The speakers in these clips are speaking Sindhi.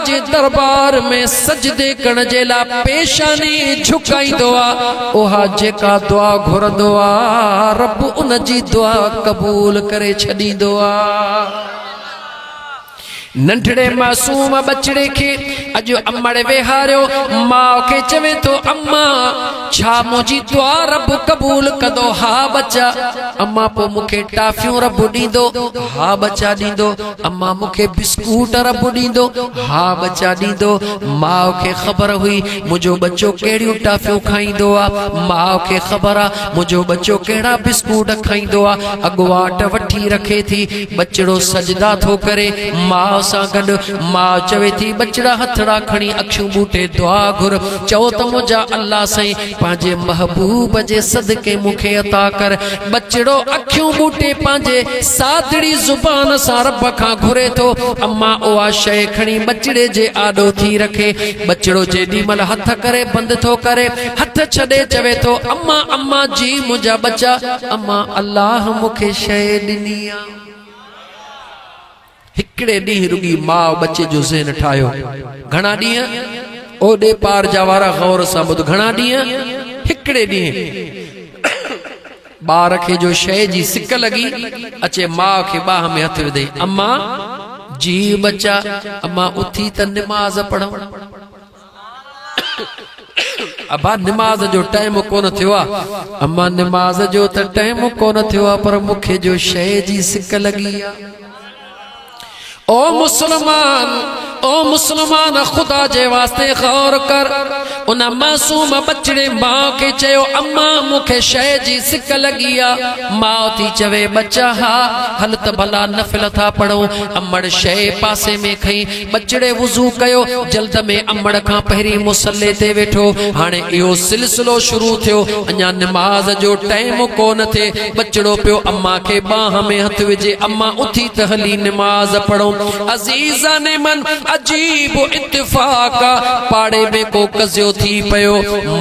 جي دربار ۾ سجدي ڪرڻ جي لاء پيشاني جھڪائيندو آهي اها جيڪا دعا گھرندو آهي رب ان جي دعا قبول ڪري ڇڏيندو آهي ننڍڙي معصوم ٻچڙي کي اڄ امڙ ويهاريو ماء کي چوي ٿو اما ڇا منهنجي دعا رب قبول ڪندو ها ٻچا اما پوء مون کي ٽافيون رب ڏيندو ها ٻچا ڏيندو امان مون کي بسڪوٽ رب ڏيندو؟ ها ٻچا ڏيندو. ماء کي خبر هئي منهنجو ٻچو ڪهڙيون ٽافيون کائيندو آ. ماء کي خبر آ منهنجو ٻچو ڪهڙا بسڪوٽ کائيندو آ. اڳواٽ وٺي رکي ٿي. ٻچڙو سجدا ٿو ڪري ماء سان گڏ. ماء چوي ٿي ٻچڙا هٿڙا کڻي اکيون ٻوٽي دعا گهر. چئو ته منهنجا الله سائين پنهنجي محبوب جي صدقي مون کي عطا ڪر. ٻچڙو اکيون ٻوٽي پنهنجي سادڙي زبان سان رب کان گهري ٿو. اما اها شيء کڻي ٻچڙي جي آڏو ٿي رکي. ٻچڙو جيڏي مهل هٿ ڪري بند ٿو ڪري. هٿ ڇڏي چوي ٿو اما اما جي منهنجا ٻچا. اما الله مون کي شيء ڏني آ. هڪڙي ڏينهن رڳي ماء ٻچي جو ذهن ٺاهيو. گهڻا ڏينهن؟ او ڏي پار جا وارا غور سان ٻڌ. گهڻا ڏينهن؟ هڪڙي ڏينهن. ٻار کي جو شيء جي سڪ لڳي اچي ماء کي ٻانهن ۾ هٿ وڌي، امان! جي ٻچا! امان اٿي ته نماز پڙهون. ابا نماز جو ٽائيم ڪونه ٿيو آ اما نماز جو ته ٽائيم ڪونه ٿيو آ پر مون کي جو شئي جي سڪ لڳي آ او مسلمان او مسلمان خدا جي واسطي غور ڪر ان معصوم بچڙي ماء کي چيو اما مون کي شئي جي سڪ لڳي آ ماء ٿي چوي ٻچا ها هل ته ڀلا نفل ٿا پڙهون امڙ شئي پاسي ۾ کئي ٻچڙي وضو ڪيو، جلد ۾ امڙ کان پهرين مصلي تي ويٺو، هاڻي اهو سلسلو شروع ٿيو، اڃا نماز جو ٽئيم ڪو نه ٿئي، ٻچڙو پيو امان کي ٻانهن ۾ هٿ وجهي، امان اٿي ته هلي نماز پڙهون. عزيزان من! عجيب اتفاق آ، پاڙي ۾ ڪو قضيو ٿي پيو،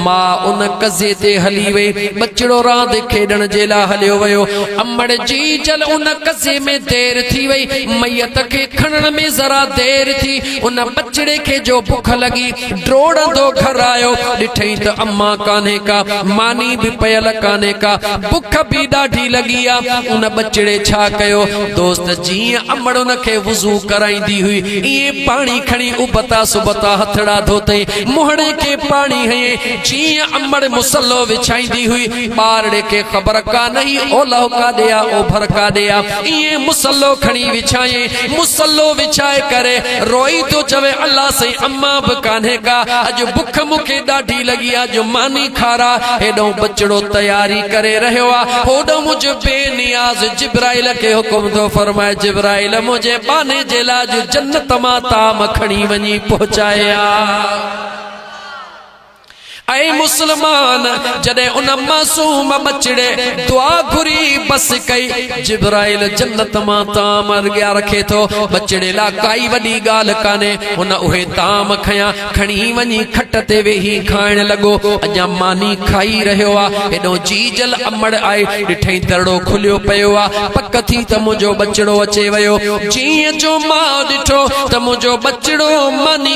ماء ان قضي تي هلي وئي، ٻچڙو راند کيڏڻ جي لاء هليو ويو، امڙ جي جل ان قضي ۾ دير ٿي وئي، ميت کي کڻڻ ۾ ذرا دير ٿي، ان ٻچڙي کي جو بک لڳي، ڊوڙندو گهر آيو، ڏٺئي ته اما ڪانهي ڪا، ماني به پيل ڪانهي ڪا، بک به ڏاڍي لڳي آ، ان ٻچڙي ڇا ڪيو، دوست جيئن امڙ ان کي وضو ڪرائيندي هئي، ايئن پاڻي کڻي ابتا سبتا هٿڙا ڌوتئي، منهڙي کي پاڻي هنئي، جيئن امڙ مصلو وڇائيندي هئي، ٻارڙي کي خبر ڪانهي اولهه ڪاڏي آ، اوڀر ڪاڏي آ، ائين مصلو کڻي وڇايائين، مصلو وڇائي ڪري روئي ٿو چوي الله سائين اما به ڪانهي ڪا، اڄ بک مون کي ڏاڍي لڳي آ، اڄ ماني کارا، هيڏهون ٻچڙو تياري ڪري رهيو آ، هوڏهن منهنجو بي نياز جبرائيل کي حڪم ٿو فرمائي جبرائيل منهنجي ٻانهي جي لاء اڄ جنت مان طعام کڻي وڃي پهچائي آ. اي مسلمان! جڏهن ان معصوم ٻچڙي دعا گهري بس ڪئي، جبرائيل جنت مان طعام اڳيان رکي ٿو. ٻچڙي لاء ڪائي وڏي ڳالهه ڪانهي. هن اهي طعام کنيا، کڻي وڃي کٽ تي ويهي کائڻ لڳو. اڃا ماني کائي رهيو آ، هيڏهون جيجل امڙ آئي، ڏٺئي درڙو کليو پيو آ. پڪ ٿي ته منهنجو ٻچڙو اچي ويو. جيئن جو ماء ڏٺو ته منهنجو ٻچڙو ماني.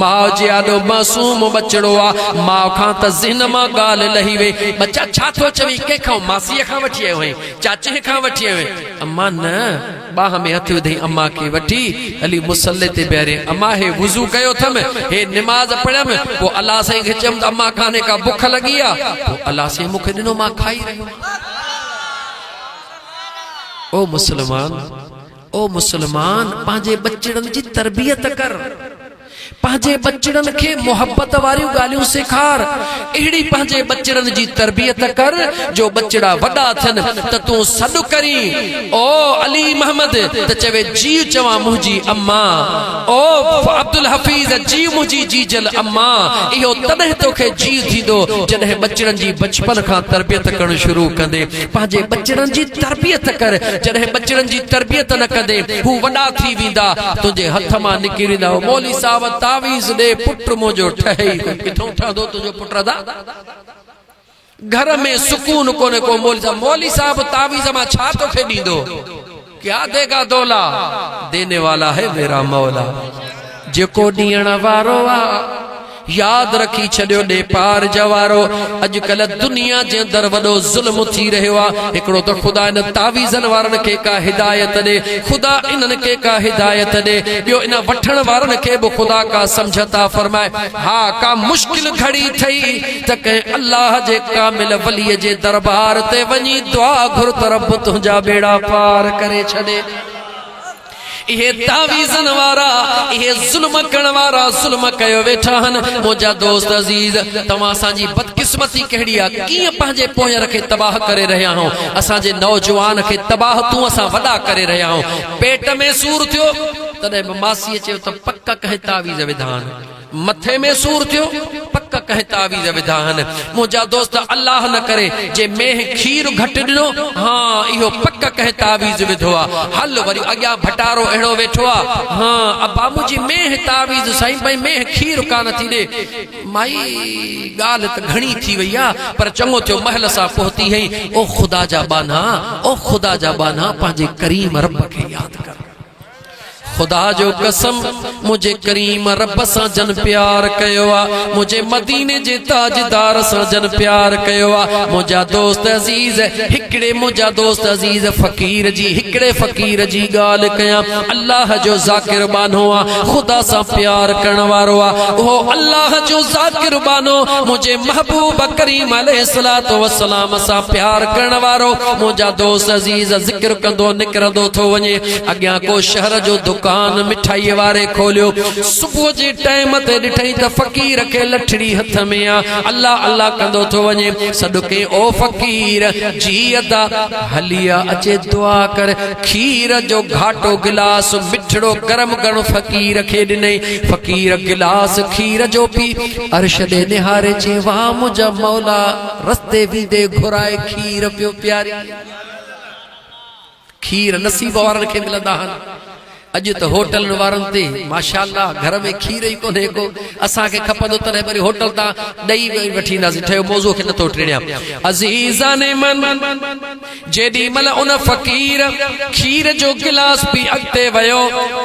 ماء جي آڏو معصوم ٻچڙو آ، ماء کان ته ذهن مان ڳالهه لهي وئي، ٻچا ڇا ٿو چوين، ڪنهن کان ماسيء کان وٺي آيو آهين، چاچيء کان وٺي آيو آهين، امان نه، ٻانهن ۾ هٿ وڌئي امان کي وٺي هلي مصلي تي بيهاريائين، امان هي وضو ڪيو اٿم، هي نماز پڙهيم، پوء الله سائين کي چيم ته امان ڪانهي ڪا بک لڳي آ، پوء الله سائين مون کي ڏنو مان کائي رهيو آهيان. او مسلمان! او مسلمان! پنهنجي ٻچڙن جي تربيت ڪر، پنهنجي ٻچڙن کي محبت واريون ڳالهيون سيکار، اهڙي پنهنجي ٻچڙن جي تربيت ڪر جو ٻچڙا وڏا ٿين ته تون سڏ ڪرين، او علي محمد! ته چوي جيء چوان منهنجي اما، او عبدالحفيظ! جيء منهنجي جيجل اما! اهو تڏهن توکي جيء ٿيندو جڏهن ٻچڙن جي بچپن کان تربيت ڪرڻ شروع ڪندين. پنهنجي ٻچڙن جي تربيت ڪر، جڏهن ٻچڙن جي تربيت نه ڪندين، هو وڏا ٿي ويندا، تنهنجي هٿ مان نڪري ويندا. هو مولوي صاحب تعويذ ڏي، پٽ منهنجو ٺهي ئي ڪونه. ڪٿئون ٺهندو تنهنجو پٽ ادا؟ گهر ۾ سڪون ڪونه ڪو مولوي صاحب. مولوي صاحب تعويذ مان ڇا توکي ڏيندو؟ ڪيا دي گا دولا، ديني والا هي ميرا مولا. جيڪو ڏيڻ وارو آ، ياد رکي ڇڏيو ڏي پار جوارو. اڄڪلهه دنيا جي اندر وڏو ظلم ٿي رهيو آ. هڪڙو ته خدا انهن تعويذن وارن کي ڪا هدايت ڏي، خدا انهن کي ڪا هدايت ڏي. ٻيو انهن وٺڻ وارن کي به خدا ڪا سمجهه عطا فرمائي. ها ڪا مشڪل گهڙي ٿئي. ته ڪنهن الله جي ڪامل وليء جي دربار تي وڃي دعا گهر ته رب تنهنجا ٻيڙا پار ڪري ڇڏي. اهي تعويذن وارا، اهي ظلم ڪرڻ وارا ظلم ڪيو ويٺا آهن. منهنجا دوست عزيز! توهان اسان جي بدقسمتي ڪهڙي آ؟ ڪيئن پنهنجي پونئير کي تباهه ڪري رهيا آهيون. اسان جي نوجوان کي تباهه تون اسان وڏا ڪري رهيا آهيون. پيٽ ۾ سور ٿيو، تڏهن به ماسيء چيو ته پڪ ڪنهن تعويذ وڌان. مٿي ۾ سور ٿيو پڪ ڪنهن تعويذ وڌا هن منهنجا دوست الله نه ڪري جي مينهن کير گهٽ ڏنو ها اهو پڪ ڪنهن تعويذ وڌو آ هل وري اڳيان ڀٽارو اهڙو ويٺو آ ها ابا منهنجي مينهن تعويذ سائين ڀئي مينهن کير ڪانه ٿي ڏي مائي ڳالهه ته گهڻي ٿي وئي آ پر چڱو ٿيو محل سان پهتي هئي او خدا جا ٻانها او خدا جا ٻانها پنهنجي ڪريم رب کي ياد ڪر خدا جو قسم منهنجي ڪريم رب سان جن پيار ڪيو آ منهنجي مديني جي تاجدار سان جن پيار ڪيو آ منهنجا دوست عزيز هڪڙي منهنجا دوست عزيز فقير جي هڪڙي فقير جي ڳالهه ڪيان الله جو ذاڪر بانو آ خدا سان پيار ڪرڻ وارو آ اهو الله جو ذاڪر بانو منهنجي محبوب ڪريم عليه الصلوۃ والسلام سان پيار ڪرڻ وارو منهنجا دوست عزيز ذڪر ڪندو نڪرندو ٿو وڃي اڳيان ڪو شهر جو دڪان مٺائيء واري کوليو. صبح جي ٽائيم تي ڏٺئي ته فقير کي لٺڙي هٿ ۾ آ. الله الله ڪندو ٿو وڃي. سڏ ڪيائين، او فقير! جي ادا! هلي آ، اچي دعا ڪر. کير جو گهاٽو گلاس مٺڙو گرم گرم فقير کي ڏنئي. فقير گلاس کير جو پي، عرش ڏي نهاري چي، واهه منهنجا مولا! رستي ويندي گهرائي کير پيو پيارين. کير نصيب وارن کي ملندا آھن اڄ ته ھوٽلن وارن تي ماشاءالله گھر ۾ کير ئي ڪونھي ڪو اسان کي کپندو تڏھن وري ھوٽل تان ڏئي ٻئي وٺي اينداسين ٺھيو موضوع کي نٿو ٽيڙيان عزيزان من جيڏي مھل ان فقير کير جو گلاس پي اڳتي ويو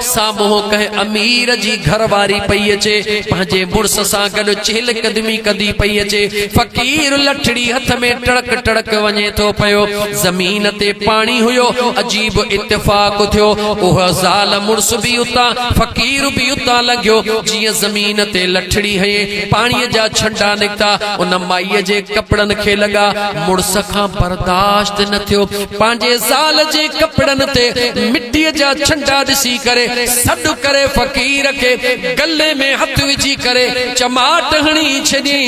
سامهون ڪنهن امير جي گهر واري پئي اچي، پنهنجي مڙس سان گڏ چهل قدمي ڪندي پئي اچي. فقير لٺڙي هٿ ۾ ٽڙڪ ٽڙڪ وڃي ٿو پيو. زمين تي پاڻي هيو. عجيب اتفاق ٿيو. اها زال مڙس به اتان، فقير به اتان لنگهيو. جيئن زمين تي لٺڙي هنئي، پاڻيء جا ڇنڊا نڪتا. ان مائيء جي ڪپڙن کي لڳا. مڙس کان برداشت نه ٿيو. پنهنجي زال جي ڪپڙن تي مٽيء جا ڇنڊا ڏسي ڪري سڏ ڪري فقير کي گلي ۾ هٿ وجهي ڪري چماٽ هڻي ڇڏي.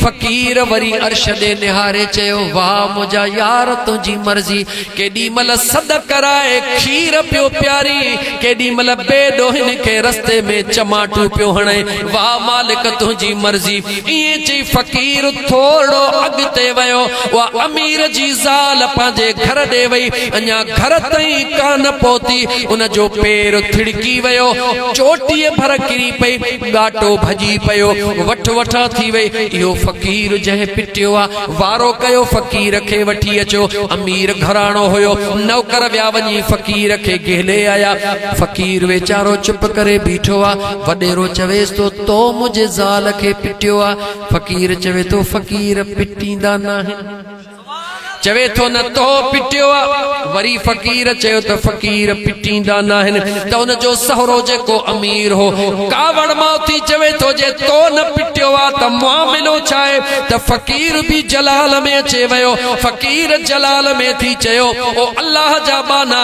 فقير وري عرش ڏي نهاري چيو، واهه منهنجا يار تنهنجي مرضي. ڪيڏي مهل سڏ ڪرائي کير پيو پيارين، ڪيڏي مهل بي ڏوهين کي رستي ۾ چماٽون پيو هڻين. واهه مالڪ تنهنجي مرضي. ائين چئي فقير ٿورڙو اڳتي ويو. اها امير جي زال پنهنجي گهر ڏي وئي. اڃا گهر تائين ڪانه پهتي، ان جو پير ٿڙڪي ويو. چوٽيء ڀر ڪري پئي. ڳاٽو ڀڄي پيو. وٺ وٺان ٿي وئي. اهو فقير جنهن پٽيو آ. وارو ڪيو فقير کي وٺي اچو. امير گهراڻو هيو. نوڪر ويا وڃي فقير کي گهلي آيا. فقير ويچارو چپ ڪري بيٺو آ. وڏيرو چويس ٿو. تو منهنجي زال کي پٽيو آ. فقير چوي ٿو فقير پٽيندا ناهن. چوي ٿو نه تو پٽيو آ. وري فقير چيو ته فقير پٽيندا ناهن ته ان جو سهرو جيڪو امير هو ڪاوڙ مان اٿي چوي ٿو جي تو نه پٽيو آ ته معاملو ڇا آهي ته فقير به جلال ۾ اچي ويو. فقير جلال ۾ ٿي چيو او الله جا ٻانها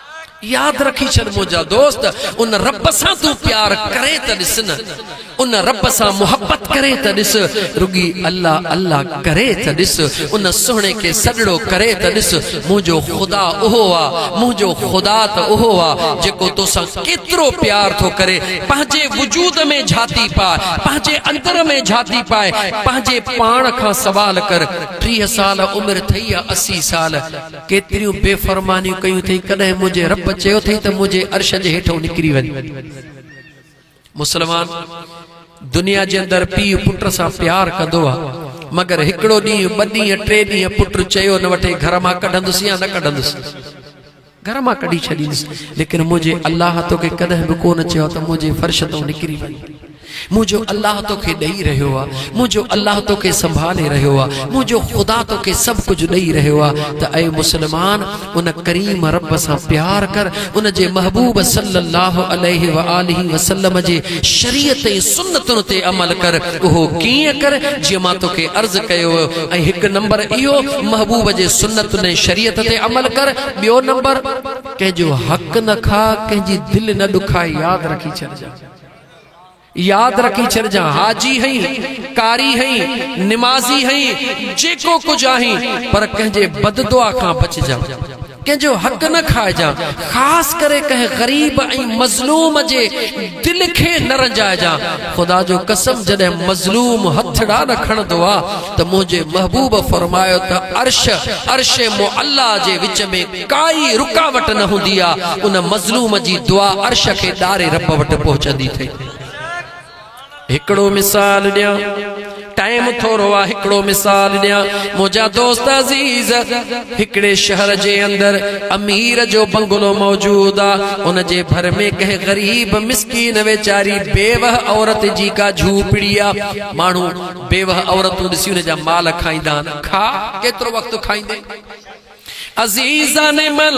ياد رکي ڇڏ منهنجا دوست ان رب سان تون پيار ڪرين ته ڏس نه ان رب سان محبت ڪرين ته ڏس رڳي الله الله ڪري ته ڏس ان سهڻي کي سڏڙو ڪري ته ڏس منهنجو خدا اهو آ منهنجو خدا ته اهو آ جيڪو توسان ڪيترو پيار ٿو ڪري پنهنجي وجود ۾ جهاتي پاء پنهنجي اندر ۾ جهاتي پاء پنهنجي پاڻ کان سوال ڪر ٽيهه سال عمر ٿئي يا اسي سال ڪيتريون بي فرمانيون ڪيون اٿئي، ڪڏهن منهنجي رب چيو اٿئي ته منهنجي عرش جي هيٺئون نڪري وڃ. مسلمان دنيا جي اندر پيء پٽ سان پيار ڪندو آ، مگر هڪڙو ڏينهن، ٻه ڏينهن، ٽي ڏينهن پٽ چيو نه وٺي گهر مان ڪڍندس يا نه ڪڍندس، گهر مان ڪڍي ڇڏيندس، ليڪن منهنجي الله توکي ڪڏهن به ڪو نه چيو آ ته منهنجي فرش تئون نڪري وڃ. منهنجو الله توکي ڏئي رهيو آ، منهنجو الله توکي سنڀالي رهيو آ، منهنجو خدا توکي سڀ ڪجهه ڏئي رهيو آ ته اي مسلمان ان ڪريم رب سان پيار ڪر، ان جي محبوب صلّي اللّٰه عليه واٰله وسلّم جي شريعت ۽ سنّتن تي عمل ڪر، اهو ڪيئن ڪر جيئن مان توکي عرض ڪيو هو ۽ هڪ نمبر اهو محبوب جي سنّتن ۽ شريعت تي عمل ڪر، ٻيو نمبر ڪنهن جو حق نه کاء، ڪنهن جي دل نه ڏکاء، ياد رکي ڇڏجان. ياد رکي ڇڏجان حاجي هئين، قاري هئين، نمازي هئين، جيڪو ڪجهه آهين پر ڪنهن جي بد دعا کان بچجان. ڪنهن جو حق نه کائجان، خاص ڪري ڪنهن غريب ۽ مظلوم جي دل کي نه رنجائجان. خدا جو قسم جڏهن مظلوم هٿڙا نه کڻندو آ ته منهنجي محبوب فرمايو ته عرش عرش معليٰ جي وچ ۾ ڪائي رڪاوٽ نه هوندي آ ان مظلوم جي دعا عرش کي ڏاري رب وٽ پهچندي ٿئي هڪڙو مثال ڏيان ٽائيم ٿورو آ هڪڙو مثال ڏيان منهنجا دوست عزيز هڪڙي شهر جي اندر امير جو بنگلو موجود آ ان جي ڀر ۾ ڪنهن غريب مسڪين ويچاري بيوه عورت جي ڪا جهوپڙي آ ماڻهو بيوه عورتون ڏسي ان جا مال کائيندا آهن کاء ڪيترو وقت کائيندين عزيزان مل،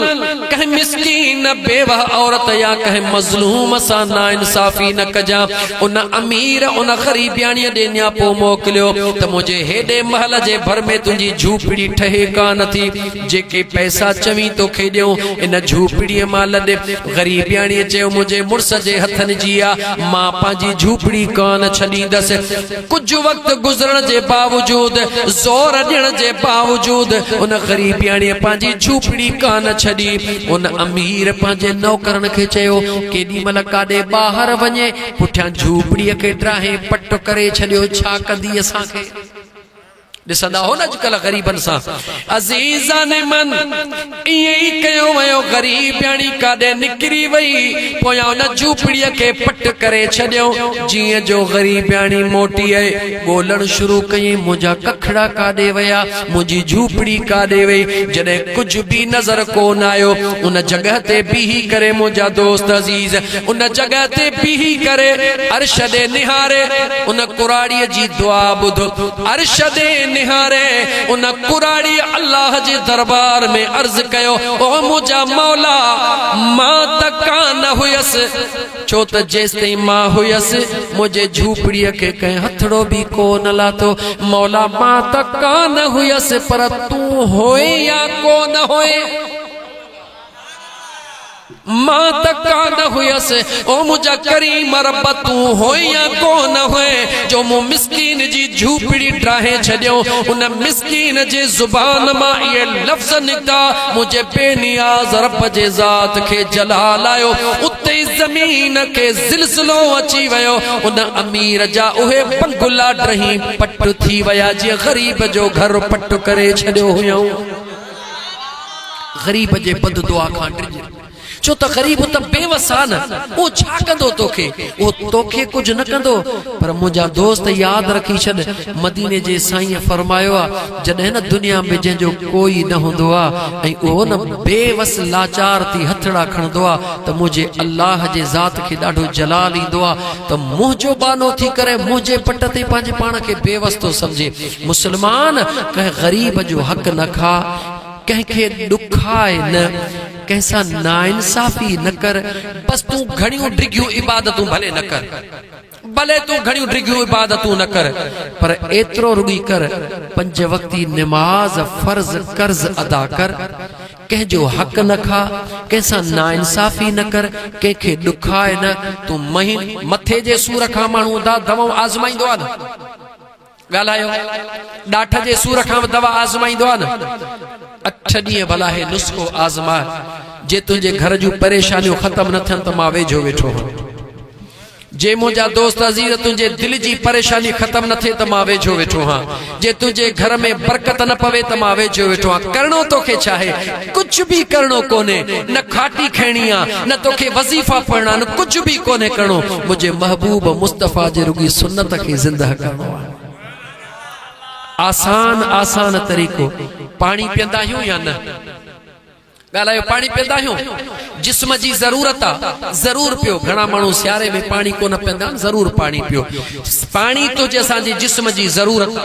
ڪنهن مسڪين، بيوه عورت يا ڪنهن مظلوم سان ناانصافي نه ڪجان. ان امير ان غريبياڻيء ڏي نياپو موڪليو ته منهنجي هيڏي محل جي ڀر ۾ تنهنجي جهوپڙي ٺهي ڪا نه ٿي. جيڪي پئسا چوين توکي ڏيون، ان جهوپڙيء مان لڏ. غريبياڻيء چيو، منهنجي مڙس جي هٿن جي آ، مان پنهنجي جهوپڙي ڪا نه ڇڏيندس. ڪجهه وقت گذرڻ جي باوجود، زور ڏيڻ جي باوجود، ان غريبياڻيء پنهنجي جهوپڙي ڪانه ڇڏي. ان امير پنهنجي نوڪرن کي چيو، ڪيڏي مهل ڪاڏي ٻاهر وڃي، پٺيان جهوپڙيء کي ڊاهي پٽ ڪري ڇڏيو، ڇا ڪندي اسان کي؟ ڏسندا هو نه اڄڪلهه غريبن سان عزيزان من ائين ئي ڪيو ويو غريبياڻي ڪاڏي نڪري وئي پويان ان جهوپڙي کي پٽ ڪري ڇڏيو جيئن جو غريبياڻي موٽي ڳولڻ شروع ڪيئي منهنجا ڪکڙا ڪاڏي ويا منهنجي جهوپڙي ڪاڏي وئي جڏهن ڪجهه به نظر ڪون آيو ان جڳهه تي بيهي ڪري منهنجا دوست عزيز ان جڳهه تي بيهي ڪري عرش ڏي نهاري ان ڪراڙيء جي دعا ٻڌ. عرش ڏي نهاري ان ڪراڙيء الله جي دربار ۾ عرض ڪيو، او منهنجا مولا! مان ته ڪا نه هيس، ڇو ته جيستائين مان هيس، منهنجي جهوپڙيء کي ڪنهن هٿڙو به ڪو نه لاتو. مولا! مان ته ڪا نه هيس، پر تون هئين يا ڪو نه هئين؟ مان ته ڪا نه هئس، او منهنجا ڪريم رب تون هئين يا ڪو نه هئين جو مون مسڪين جي جهوپڙي ڊاهي ڇڏيو. ان مسڪين جي زبان مان اهي لفظ نڪتا، منهنجي بي نياز رب جي ذات کي جلال آيو. اتي ئي زمين کي زلزلو اچي ويو. ان امير جا اهي بنگلا ڊهي پٽ ٿي ويا جنهن غريب جو گهر پٽ ڪري ڇڏيو هيائون. غريب جي بد دعا کان ڊڄ، ڇو ته غريب ته بي وس آ نه، اهو ڇا ڪندو توکي، اهو توکي ڪجهه نه ڪندو، پر منهنجا دوست ياد رکي ڇڏ، مديني جي سائينء فرمايو آ، جڏهن نه دنيا ۾ جنهن جو ڪوئي نه هوندو آ ۽ اهو نه بي وس لاچار ٿي هٿڙا کڻندو آ ته منهنجي الله جي ذات کي ڏاڍو جلال ايندو آ ته منهنجو ٻانهو ٿي ڪري منهنجي پٽ تي پنهنجي پاڻ کي بي وس ٿو سمجهي مسلمان ڪنهن غريب جو حق نه کاء، ڪنهن کي ڏکاء نه، ڪنهن سان ناانصافي نه ڪر، بس تون گهڻيون ڊگهيون عبادتون ڀلي نه ڪر، ڀلي تون گهڻيون ڊگهيون عبادتون نه ڪر، پر ايترو رڳي ڪر، پنج وقتي نماز فرض قرض ادا ڪر، ڪنهن جو حق نه کاء، ڪنهن سان ناانصافي نه ڪر، ڪنهن کي ڏکاء نه، تون مهين، مٿي جي سور کان ماڻهو دانهن دئون آزمائيندو آهي نه. ڳالهايو ڏاٺ جي سور کان به دوا آزمائيندو آهي نه اٺ ڏينهن ڀلا هي نسخو آزماء جي تنهنجي گهر جون پريشانيون ختم نه ٿين ته مان ويجهو ويٺو هوم جي منهنجا دوست عزيز تنهنجي دل جي پريشاني ختم نه ٿئي ته مان ويجهو ويٺو هان جي تنهنجي گهر ۾ برڪت نه پوي ته مان ويجهو ويٺو هان ڪرڻو توکي ڇا آهي ڪجهه به ڪرڻو ڪونهي نه کاٽي کڻڻي آ نه توکي وظيفا پڙهڻا نه ڪجهه به ڪونهي ڪرڻو منهنجي محبوب مصطفيٰ جي رڳي سنت کي زنده ڪرڻو آ آسان آسان طريقو پاڻي پيئندا آهيون يا نه ڳالهايو پاڻي پيئندا آهيون جسم جي ضرورت آ ضرور پيو گهڻا ماڻهو سياري ۾ پاڻي ڪونه پيئندا آهن ضرور پاڻي پيو پاڻي تو جي اسان جي جسم جي ضرورت آ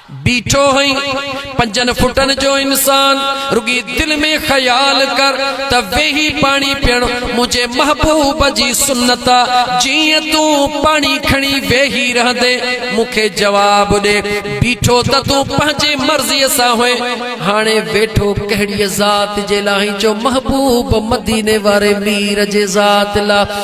بيٺو هئين پنجن فٽن جو انسان رڳي دل ۾ خيال ڪر ته ويهي پاڻي پيئڻ منهنجي محبوب جي سنت آ جيئن تون پاڻي کڻي ويهي رهندي مون کي جواب ڏي بيٺو ته تون پنهنجي مرضي سان هئين هاڻي ويٺو ڪهڙي ذات جي لاء هئين جو محبوب مديني واري مير جي ذات لاء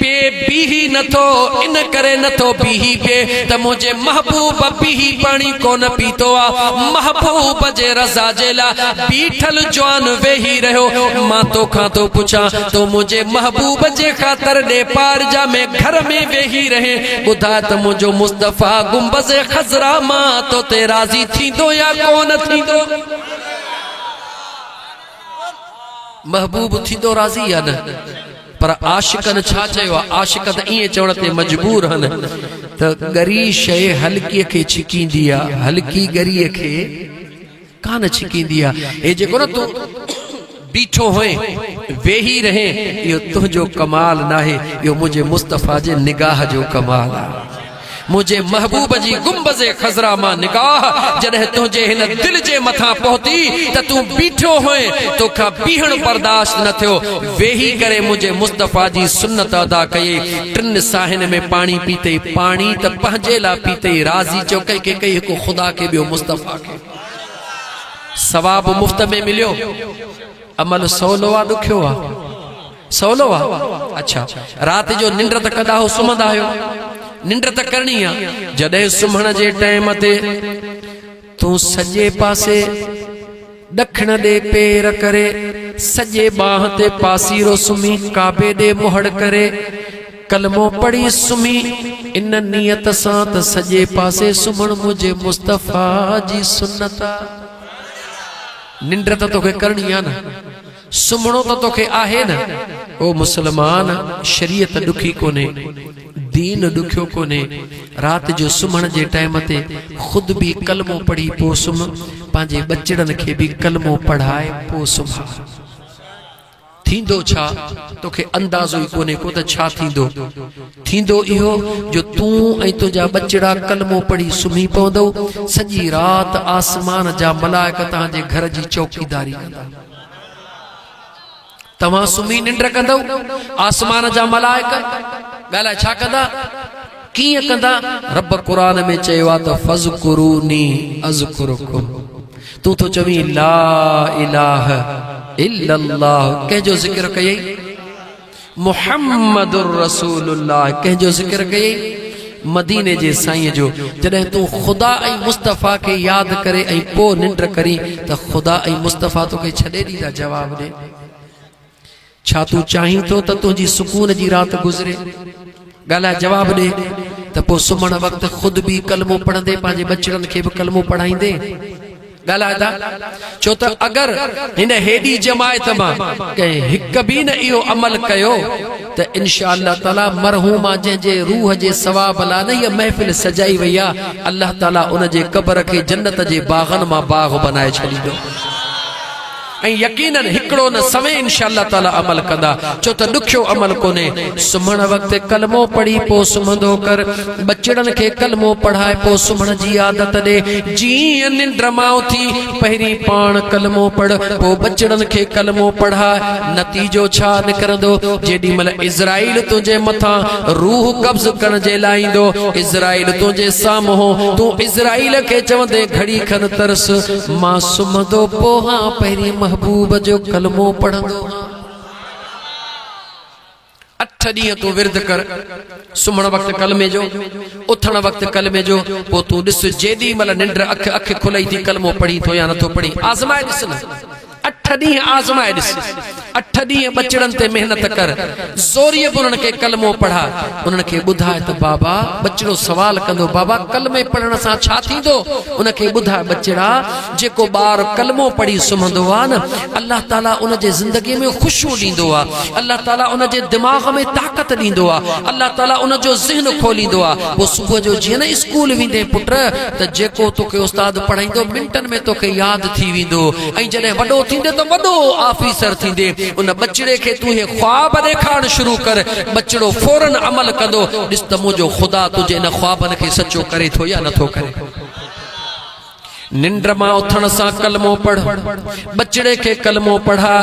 پي بيهي نه ٿو، ان ڪري نه ٿو بيهي پي ته منهنجي محبوب بيهي پاڻي ڪونه پيتو آ. محبوب جي رضا جي لاء بيٺل جوان ويهي رهيو. مان تو کان ٿو پڇان، تو منهنجي محبوب جي خاطر ڏي پار جا ۾ گهر ۾ ويهي رهين، ٻڌاء ته منهنجو مصطفيٰ گنبذ خضرا مان تو تي راضي ٿيندو يا ڪونه ٿيندو؟ محبوب ٿيندو راضي يا نه؟ پر عاشقن ڇا چيو آ؟ عاشق ته ائين چوڻ تي مجبور هن ته ڳري شيء هلڪيء کي ڇڪيندي آ، هلڪي ڳريء کي ڪانه ڇڪيندي آ. هي جيڪو نه تون بيٺو هئين، ويهي رهين، اهو تنهنجو ڪمال ناهي، اهو منهنجي مصطفيٰ جي نگاهه جو ڪمال آ. منهنجي محبوب جي گنبذ خضرا مان نگاهه جڏهن تنهنجي هن دل جي مٿان پهتي ته تون بيٺو هئين، تو کان بيهڻ برداشت نه ٿيو، ويهي ڪري منهنجي مصطفيٰ جي سنت ادا ڪيئي، ٽن ساهين ۾ پاڻي پيتئي، پاڻي ته پنهنجي لاء پيتئي، راضي چئو ڪنهن کي ڪئي، هڪ خدا کي ٻيو مصطفيٰ کي. ثواب مفت ۾ مليو، عمل سولو آ ڏکيو آ؟ سولو وا، اڇا، رات جو ننڊ ته ڪندا هو سمهندا آهيو، ننڊ ته ڪرڻي آ، جڏهن سمهڻ جي ٽيم تي تون سڄي پاسي ڏکڻ ڏي پير ڪري سڄي ٻانهن تي پاسيرو سمهي ڪعبي ڏي مهڙ ڪري ڪلمو پڙهي سمهي ان نيت سان ته سڄي پاسي سمهڻ منهنجي مصطفيٰ جي سنت آ. ننڊ ته توکي ڪرڻي آ نه. سمهڻو ته توکي آهي نه. او مسلمان! شريعت ڏکي ڪونهي، دين ڏکيو ڪونهي، رات جو سمهڻ جي ٽائيم تي خود به ڪلمو پڙهي پوء سمهه، پنهنجي ٻچڙن کي به ڪلمو پڙهائي پوء سمهه. ٿيندو ڇا؟ توکي اندازو ئي ڪونهي ڪو ته ڇا ٿيندو؟ ٿيندو اهو جو تون ۽ تنهنجا ٻچڙا ڪلمو پڙهي سمهي پوندؤ، سڄي رات آسمان جا ملائڪ توهان جي گهر جي چوڪيداري ڪندا. توهان سمهي ننڊ ڪندؤ آسمان جا ملائڪ ڳالهائي ڇا ڪندا ڪيئن ڪندا رب قرآن ۾ چيو آهي ته فذڪروني اذکرکم تون ٿو چوين لا اله الا الله ڪنهن جو ذڪر ڪيئي محمد رسول الله ڪنهن جو ذڪر ڪيئي؟ مديني جي سائين جو جڏهن تون خدا ۽ مصطفيٰ کي ياد ڪري ۽ پوء ننڊ ڪرين ته خدا ۽ مصطفيٰ توکي ڇڏي ڏيندا جواب ڏي ڇا تون چاهين ٿو ته تنهنجي سڪون جي رات گذري ڳالهائي جواب ڏي ته پوء سمهڻ وقت خود به ڪلمو پڙهندي پنهنجي ٻچڙن کي به ڪلمو پڙهائيندي ڳالهائي ٿا ڇو ته اگر هن هيڏي جماعت مان ڪنهن هڪ به نه اهو عمل ڪيو ته انشاء الله تعالي مرحومه جنهن جي روح جي ثواب لا نه هيء محفل سجائي وئي آ الله تعالي ان جي قبر کي جنت جي باغن مان باغ بنائي ڇڏيندو ۽ يقينن هڪڙو نه سوين انشاء الله تعالي عمل ڪندا ڇو ته ڏکيو عمل ڪونهي سمهڻ وقت ڪلمو پڙهي پو سمهندو ڪر ٻچڙن کي ڪلمو پڙهائي پو سمهڻ جي عادت ڏي جيئن ننڊ مان اٿي پهرين پاڻ ڪلمو پڙهه پو ٻچڙن کي ڪلمو پڙهاء نتيجو ڇا نڪرندو جيڏي مهل اسرائيل تنهنجي مٿان روح قبض ڪرڻ جي لاء ايندو اسرائيل تنهنجي سامهون تون اسرائيل کي چوندين گهڙي کن ترس مان سمهندو پوهان پهرين محبوب جو ڪلمو پڙهندو هان. اٺ ڏينهن تون ورد ڪر، سمهڻ وقت ڪلمي جو، اٿڻ وقت ڪلمي جو، پوء تون ڏس جيڏي مهل ننڊ اک اک کلئي ٿي ڪلمو پڙهين ٿو يا نٿو پڙهين. آزمائي ڏس نه. اٺ ڏينهن آزمائي ڏس. اٺ ڏينهن ٻچڙن تي محنت ڪر، زوريء به انهن کي ڪلمو پڙهاء. انهن کي ٻڌاء ته بابا، ٻچڙو سوال ڪندو، بابا ڪلمي پڙهڻ سان ڇا ٿيندو؟ ان کي ٻڌاء ٻچڙا، جيڪو ٻار ڪلمو پڙهي سمهندو آهي نه، الله تعاليٰ ان جي زندگيء ۾ خوشيون ڏيندو آهي. الله تعاليٰ ان جي دماغ ۾ طاقت ڏيندو آهي. الله تعاليٰ ان جو ذهن کوليندو آهي. پوء صبح جو جيئن نه اسڪول ويندين پٽ، ته جيڪو توکي استاد پڙهائيندو، منٽن ۾ توکي ياد ٿي ويندو. ۽ جڏهن وڏو ٿيندي ته وڏو آفيسر ٿيندي ان ٻچڙي کي تون هي خواب ڏيکارڻ شروع ڪر ٻچڙو فورا عمل ڪندو ڏس ته منهنجو خدا تنهنجي ان خوابن کي سچو ڪري ٿو يا نٿو ڪري ننڊ مان اٿڻ سان ڪلمو پڙهه ٻچڙي کي ڪلمو پڙهاء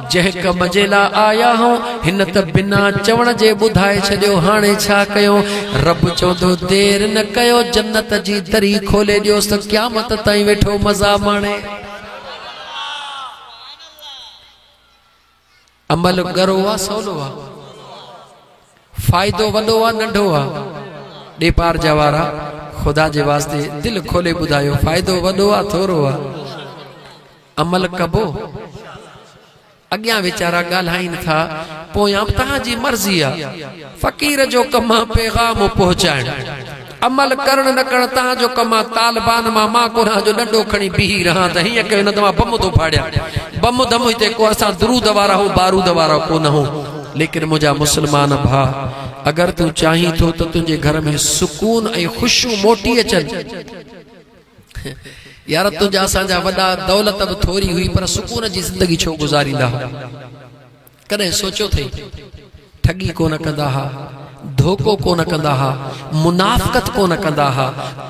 جنهن ڪم جي لاء آيا هئون، هن ته بنا چوڻ جي ٻڌائي ڇڏيو، هاڻي ڇا ڪيون؟ رب چوندو، دير نه ڪيو، جنت جي دري کولي ڏيوس ته قيامت تائين ويٺو مزا ماڻي. عمل ڳرو آ سولو آ؟ فائدو وڏو آ ننڍو آ. ڏيپار جا وارا خدا جي واسطي دل کولي ٻڌايو فائدو وڏو آ ٿورو آ عمل ڪبو اڳيان ويچارا ڳالهائين ٿا پويان به توهان جي مرضي آ فقير جو ڪم آ پيغام پهچائڻ. عمل ڪرڻ نه ڪرڻ تهان جو ڪم آ طالبان مان مان قرآن جو ڏنڊو کڻي بيهي رهان ته هيئن ڪيو نه ته مان بم ٿو ڦاڙيان بم دم هتي ڪو اسان درود وارا هون بارود وارا ڪو نه هون ليڪن منهنجا مسلمان ڀا اگر تون چاهين ٿو ته تنهنجي گهر ۾ سڪون ۽ خوشيون موٽي اچن يار تنهنجا اسان جا وڏا دولت به ٿوري هئي پر سڪون جي زندگي ڇو گذاريندا هئا ڪڏهن سوچيو اٿئي؟ ٺڳي ڪونه ڪندا ها، ڌوڪو ڪونه ڪندا ها، منافقت ڪونه ڪندا ها،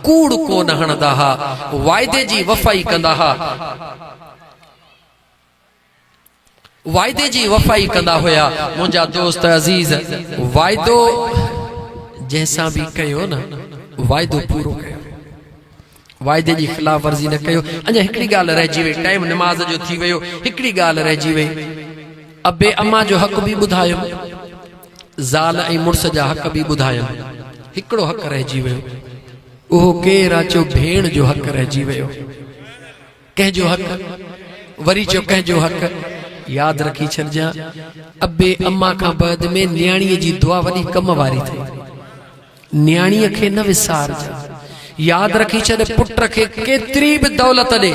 ڪوڙ ڪونه هڻندا ها، واعدي جي وفائي ڪندا ها. واعدي جي وفائي ڪندا هيا منهنجا دوست عزيز. واعدو جنهن سان به ڪيو نه، واعدو پورو ڪيو. واعدي جي خلاف ورزي نه ڪيو. اڃا هڪڙي ڳالهه رهجي وئي. ٽائيم نماز جو ٿي ويو. هڪڙي ڳالهه رهجي وئي. ابي اما جو حق به ٻڌايم. زال ۽ مڙس جا حق به ٻڌايم. هڪڙو حق رهجي ويو. اهو ڪير آ چيو ڀيڻ جو حق رهجي ويو. ڪنهن جو حق وري چئو ڪنهن جو حق ياد رکي ڇڏجان ابي اما کان بعد ۾ نياڻي جي دعا وڏي ڪم واري ٿئي نياڻي کي نه وسارجان ياد رکي ڇڏ پٽ کي ڪيتري به دولت ڏي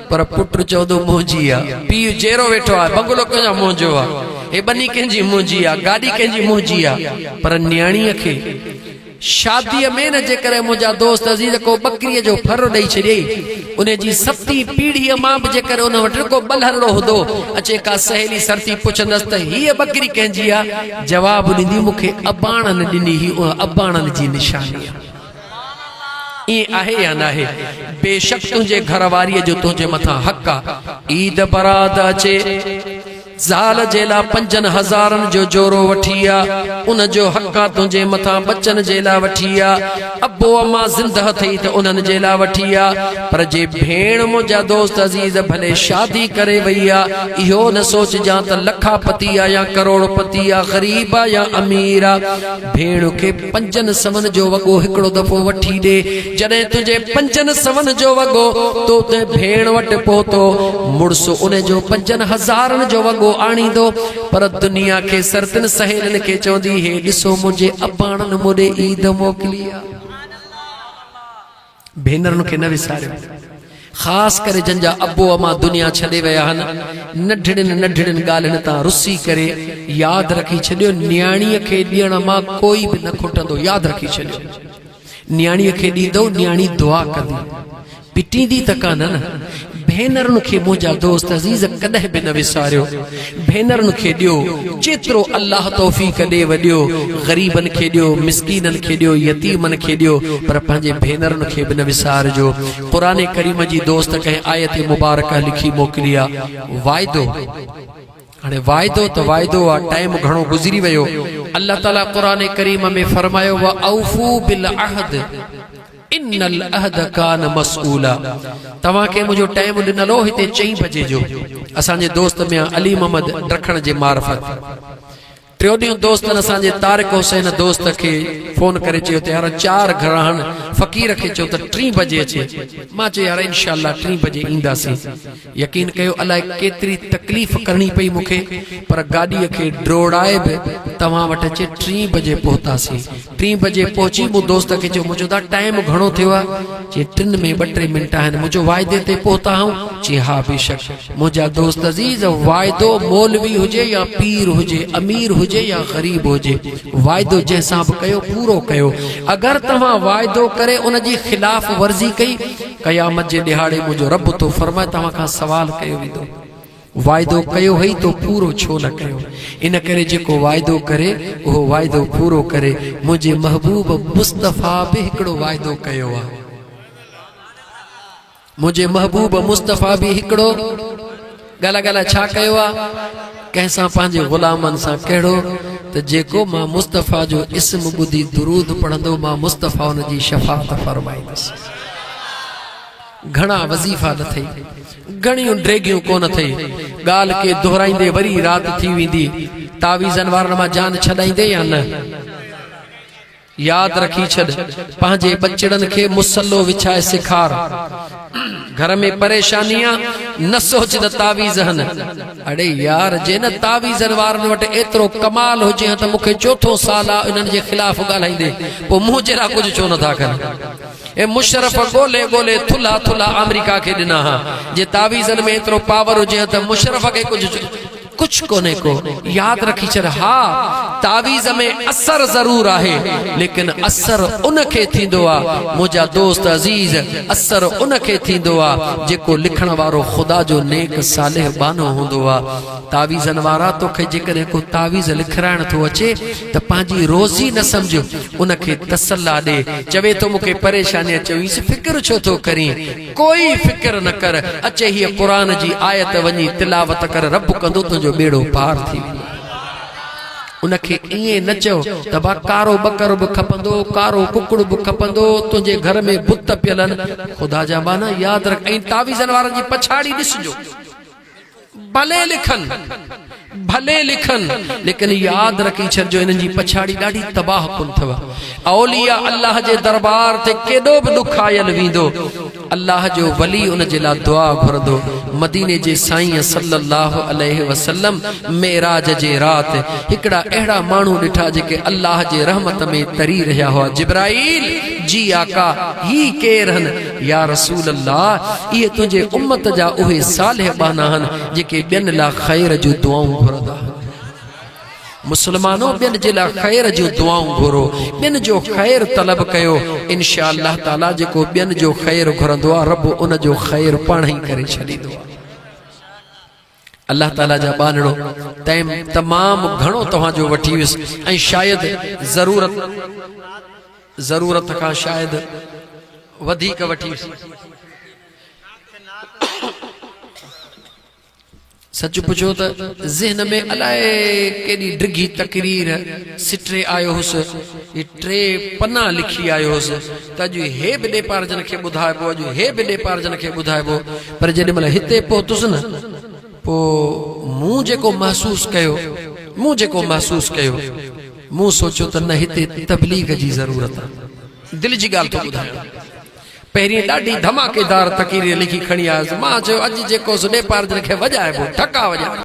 پر پٽ چوندو منهنجي آ پي جيرو ويٺو آ بنگلو ڪنهن جو منهنجو آ هي بني ڪنهن جي منهنجي آ گاڏي ڪنهن جي منهنجي آ پر نياڻي کي شاديء ۾ نه جيڪڏهن منهنجا دوست عزيز ڪو ٻڪريء جو ڦر ڏئي ڇڏي، انهيء جي سبتين پيڙهيء مان به جيڪڏهن ان وٽ ڪو ٻلهرڙو هوندو، اچي ڪا سهيلي سرتي پڇندس ته هيء ٻڪري ڪنهن جي آ؟ جواب ڏيندي، مون کي اباڻن ڏني هئي، اها اباڻن جي نشاني آ. ائين آهي يا ناهي؟ بيشڪ تنهنجي گهر واريء جو تنهنجي مٿان حق آ. عيد برات اچي. زال جي لا پنجن هزارن جو جورو وٺي آ ان جو حق آ تنهنجي مٿان ٻچن جي لا وٺي آ ابو اما زنده اٿئي ته انهن جي لا وٺي آ پر جي ڀيڻ منهنجا دوست عزيز ڀلي شادي ڪري وئي آ اهو نه سوچجان ته لکا پتي آ يا ڪروڙ پتي آ غريب آ يا امير آ ڀيڻ کي پنجن سون جو وڳو هڪڙو دفعو وٺي ڏي. جڏهن تنهنجي پنجن سون جو وڳو تو تنهن ڀيڻ وٽ پهتو، مڙس ان جو پنجن هزارن جو وڳو آڻيندو. پر دنيا کي سر تن سهيلين کي چوندي، هي ڏسو منهنجي اباڻن مون ڏي عيد موڪلي آ. ڀينرن کي نه وساريو، خاص ڪري جن جا ابو امان دنيا ڇڏي ويا آهن، ننڍڙين ننڍڙين ڳالهين تان رسي ڪري، ياد رکي ڇڏيو نياڻيء کي ڏيڻ مان ڪوئي به نه کٽندو، ياد رکي ڇڏيو نياڻيء کي ڏيندؤ، نياڻي دعا ڪندي، پٽيندي ته ڪانه نه؟ ڀينرن کي منهنجا دوست عزيز ڪڏهن به نه وساريو ڀينرن کي ڏيو جيترو الله توفيق ڏي و ڏيو غريبن کي ڏيو مسڪينن کي ڏيو يتيمن کي ڏيو پر پنهنجي ڀينرن کي به نه وسارجو قرآن ڪريم جي دوست ڪنهن آيت مبارڪه لکي موڪلي آ واعدو هاڻي واعدو ته واعدو آ ٽائيم گهڻو گذري ويو الله تعالي قرآن ڪريم ۾ فرمايو واوفو بالعهد ان العهد ڪان مسئولا توهان کي منهنجو ٽائيم ڏنل هو هتي چئين بجي جو اسان جي دوست ميان علي محمد ڊکڻ جي معرفت ٽيو ڏينهن دوستن اسان جي طارق حسين دوست کي فون ڪري چيو ته يار چار گهراهن فقير کي چئو ته ٽين بجي اچي مان چيو يار انشاء الله ٽين بجي اينداسين يقين ڪيو الاء ڪيتري تڪليف ڪرڻي پئي مون کي پر گاڏيء کي ڊوڙائي به توهان وٽ اچي ٽين بجي پهتاسين. ٽين بجي پهچي مون دوست کي چيو مون چيو دا ٽائيم گهڻو ٿيو آ؟ چي ٽن ۾ ٻه ٽي منٽ آهن. مون چيو واعدي تي پهتا آهون؟ چي ها بيشڪ منهنجا دوست عزيز واعدو مولوي هجي يا پير هجي امير هجي يا غريب هجي واعدو جنهن سان به ڪيو پورو ڪيو اگر توهان واعدو ڪري ان جي خلاف ورزي ڪئي قيامت جي ڏهاڙي منهنجو رب ٿو فرمائي توهان کان سوال ڪيو ويندو واعدو ڪيو هئي تو پورو ڇو نه ڪيو ان ڪري جيڪو واعدو ڪري اهو واعدو پورو ڪري منهنجي محبوب مصطفيٰ به هڪڙو واعدو ڪيو آهي منهنجي محبوب مصطفيٰ به هڪڙو ڳالهه ڳالهه ڇا ڪيو آ ڪنهن سان پنهنجي غلامن سان ڪهڙو ته جيڪو مان مصطفيٰ جو اسم ٻڌي درود پڙهندو مان مصطفيٰ ان جي شفاعت فرمائيندس گهڻا وظيفا نه ٿئي گهڻيون ڊيگهيون ڪونه ٿئي ڳالهه ڪي دهرائيندي وري رات ٿي ويندي تعويذن وارن مان جان ڇڏائيندي يا نه ياد رکي ڇڏ پنهنجي ٻچڙن کي مصلو وڇائي سيکار گهر ۾ پريشاني آ نه سوچ ته تعويذ هن اڙي يار جي نه تعويذن وارن وٽ ايترو ڪمال هجي ها ته مون کي چوٿون سال آ انهن جي خلاف ڳالهائيندي پو مون جهڙا ڪجهه ڇو نه ٿا ڪن اي مشرف ڳولي ڳولي ٿلها ٿلها آمريڪا کي ڏنا ها جي تعويذن ۾ ايترو پاور هجي ها ته مشرف کي ڪجهه ڪڇ ڪونهي ڪو ياد رکي ڇڏ ها تعويذ ۾ اثر ضرور آهي ليڪن اثر ان کي ٿيندو آ منهنجا دوست عزيز اثر ان کي ٿيندو آ جيڪو لکڻ وارو خدا جو نيڪ صالح ٻانهو هوندو آ تعويذن وارا توکي جيڪڏهن ڪو تعويذ لکرائڻ ٿو اچي ته پنهنجي روزي نه سمجهه ان کي تسلا ڏي چوي ٿو مون کي پريشاني آ چوينس فڪر ڇو ٿو ڪرين ڪوئي فڪر نه ڪر، اچي هيء قرآن جي آيت وڃي تلاوت ڪر رب ڪندو تنهنجو ٻيڙو پار ٿي ويندو. ان کي ائين نه چئو ته ڀا ڪارو ٻڪر به کپندو، ڪارو ڪڪڙ به کپندو، تنهنجي گهر ۾ بت پيل آهن، خدا جا ٻانها ياد رک ۽ تعويذن وارن جي پڇاڙي ڏسجو. ڀلي لکن ڀلي لکن ليڪن ياد رکي ڇڏ جو انهن جي پڇاڙي ڏاڍي تباهه ڪن ٿو اولياء الله جي دربار تي ڪيڏو به ڏکايل ويندو الله جو ولي ان جي لاء دعا گهرندو مديني جي سائين صلي الله عليه وسلم معراج جي رات هڪڙا اهڙا ماڻهو ڏٺا جيڪي الله جي رحمت ۾ تري رهيا هئا جبرائيل جي آقا هي ڪير هن يا رسول الله! اهي تنهنجي امت جا اهي صالح ٻانها آهن، جيڪي ٻين لاء خير جون دعائون گهرندا آهن. مسلمانو! ٻين جي لاء خير جون دعائون گهرو، ٻين جو خير طلب ڪيو، انشاء الله تعاليٰ جيڪو ٻين جو خير گهرندو آهي، رب ان جو خير پاڻهئي ڪري ڇڏيندو آهي. الله تعاليٰ جا ٻانهڙو تيم تمام گهڻو توهان جو وٺي ويس ۽ شايد ضرورت ضرورت کان شايد وڌيڪ وٺي ويس سچ پڇو ته ذهن ۾ الائي ڪيڏي ڊگهي تقرير سٽري آيو هوس ٽي پنا لکي آيو هوس ته اڄ هي به ڏيپار جن کي ٻڌائبو، اڄ هي به ڏيپار جن کي ٻڌائبو، پر جيڏي مهل هتي پهتس نه، پوء مون جيڪو محسوس ڪيو، مون جيڪو محسوس ڪيو، مون سوچيو ته نه هتي تبليغ جي ضرورت آ. دل جي ڳالهه ٿو ٻڌايان. پهرين ڏاڍي ڌماڪيدار تقرير لکي کڻي آيس. مان چيو اڄ جيڪو سو ڏيپار جن کي وڄائبو، ٽڪا وڄائبا.